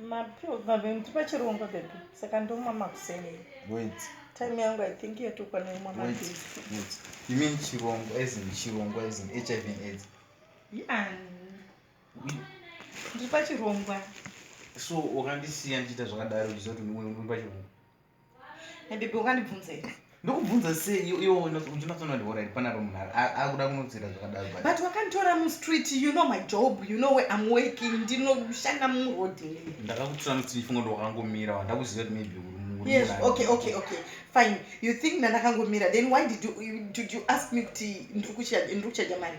Mapills babe ndipa chirungu babe saka ndomwa makuseni. Wait. Time yangu I think yatokwana imwa mapills. Wait. Wait. You mean chirungu as in chirungu as in HIV and AIDS? Yeah. Ndipa chirungu. So wakandisiya ndichiita zvakadaro uchiziva kuti ndipa chirungu. Baby ungandibvunza here? ndokubvunza sei iwo unotsona ndiora iri panaro munhu akuda kunotsira zvakadaro but wakanditora mustreet you know my job you know where am working ndinoshanda muroad ndakakutora mustreet funga ndo wakangomira wandakuziva kuti maybe yes okay okay okay fine you think ndandakangomira then why did you, did you ask me kuti ndiri kuchaja mari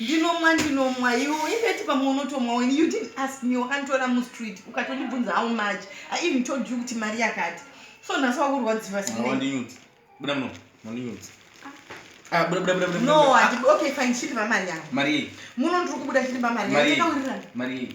ndinomwa ndinomwa iwo indeti pamwe unotomwa wen you didn't ask me wakanditora mustreet ukatondibvunza how much i even told you kuti mari yakati so nhasi wakurwadziva sinwandinyudzi buda muno wandinyudzi Ah, buda buda buda buda. No, ah. okay fine, chiri pamari yangu. Mari. Muno ndiri kubuda chiri pamari. Mari. Mari.